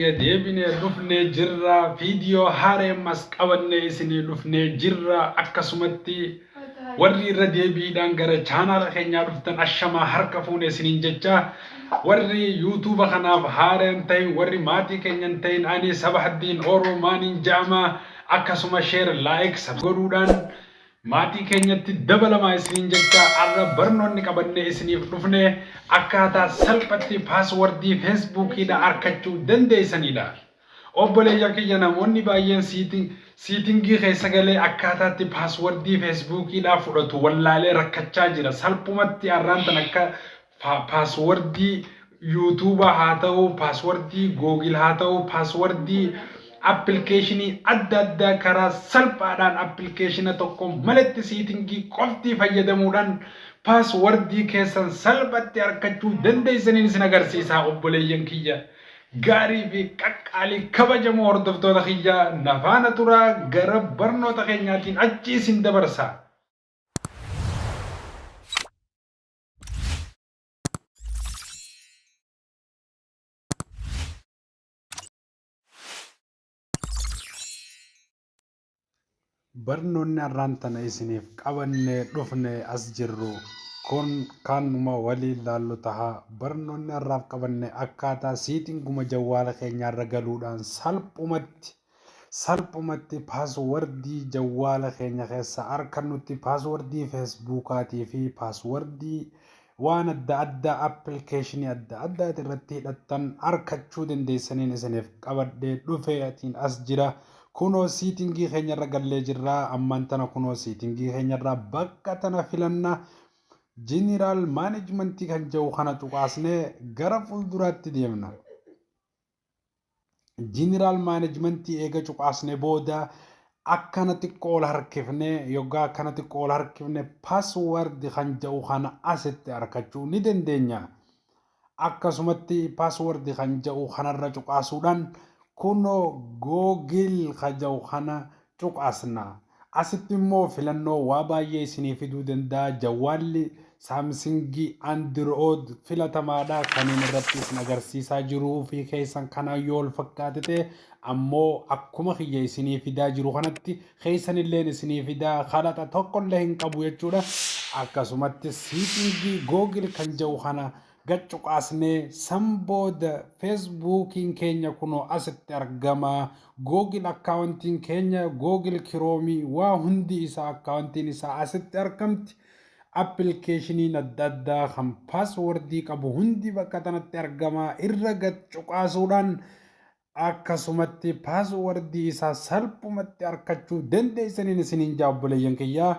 Baga deebine dhufne jirra video haara emmas qabanne isini dhufne jirra akkasumatti warri irra deebiidhaan gara chaanaala keenyaa dhuftan ashamaa harka fuune isinin jecha warri yuutuuba kanaaf haara hin ta'in warri maatii keenya hin ta'in ani sabahaddiin oro maanin ja'ama akkasuma sheer laayik godhuudhaan Maatii keenyatti dabalamaa isiniin jechaa arra barnoonni qabannee isiniif dhufne akkaataa salphatti paaswardii feesbuukiidha arkachuu dandeeysaniidha. Obboleeyyan kiyya namoonni baay'een siitingii keessa galee akkaataatti paaswardii feesbuukiidha fudhatu wallaalee rakkachaa jira salphumatti arraan tana akka Pa- paaswordii yuutuubaa haa ta'u paaswordii googil haa ta'u paaswordii appilikeeshinii adda addaa karaa salphaadhaan appilikeeshina tokko maletti siitingii qoftii fayyadamuudhaan paaswordii keessan salphatti arkachuu dandeessaniin isin agarsiisaa obboleeyyan kiyya gaarii fi qaqqaalii kabajamoo hordoftoota kiyya nafaana turaa gara barnoota keenyaatiin achi isin dabarsaa barnoonni har'aan tana isiniif qabannee dhufne as jirru kun kanuma waliin laallu taha barnoonni har'aaf qabanne akkaataa siitinguma jawwaala keenyaarra galuudhaan salphumatti Salphumatti paaswardii jawwaala keenya keessaa arkannutti paaswardii feesbuukaatii fi paaswardii waan adda addaa appilikeeshinii adda addaati irratti hidhattan arkachuu dandeessaniin isiniif qabadhee dhufee atiin as jira kunoo siitingii keenyarra gallee jirra ammaan tana kunoo siitingii keenyarra bakka tana filanna jeneraal maanejmentii kan jedhu kana cuqaasnee gara fuulduraatti deemna. General Management eega cuqaasne booda akkana xiqqoo ol harkifne yoggaa akkana xiqqoo ol harkifne password kan ja'u kana asitti arkachuu ni dandeenya. Akkasumatti password kan ja'u kanarra cuqaasuudhaan kunoo Google ka ja'u kana cuqaasna. Asitti immoo filannoo waa baay'ee isinii fiduu danda'a. Jawwaalli Samsung Android filatamaadha. Kaniin irratti isin agarsiisaa jiru ofii keessan kanaan yoo wal fakkaate ta'e ammoo akkuma kiyya isinii fidaa jiru kanatti keessan illeen isinii fidaa kadhata tokkollee hin qabu jechuudha. Akkasumatti siitingii Google kan jedhu kana gad cuqaasnee san booda feesbuukiin keenya kunoo asitti argama googil akkaawuntiin keenya googil kiroomii waa hundi isaa akkaawuntiin isaa asitti argamti appilikeeshiniin adda addaa kan paaswordii qabu hundi bakka tanatti argama irra gad cuqaasuudhaan akkasumatti paaswordii isaa salphumatti arkachuu dandeeysaniin isiniin jaa obboleeyyan kiyyaa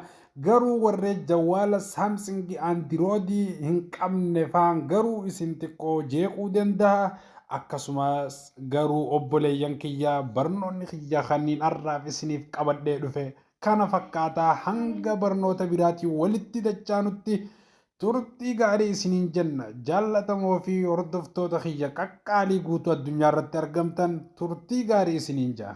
garuu warree jawaala saamsingi andiroodii hin qabne faan garuu isin xiqqoo jeequu dandaha akkasumas garuu obboleeyyan kiyyaa barnoonni kiyya kanniin arraaf isiniif qabadhee dhufe kana fakkaataa hanga barnoota biraatii walitti dachaanutti Turtii gaarii isiniin jenna. Jaallatamoo fi hordoftoota kiyya qaqqaalii guutuu addunyaa irratti argamtan turtii gaarii isiniin ja'a.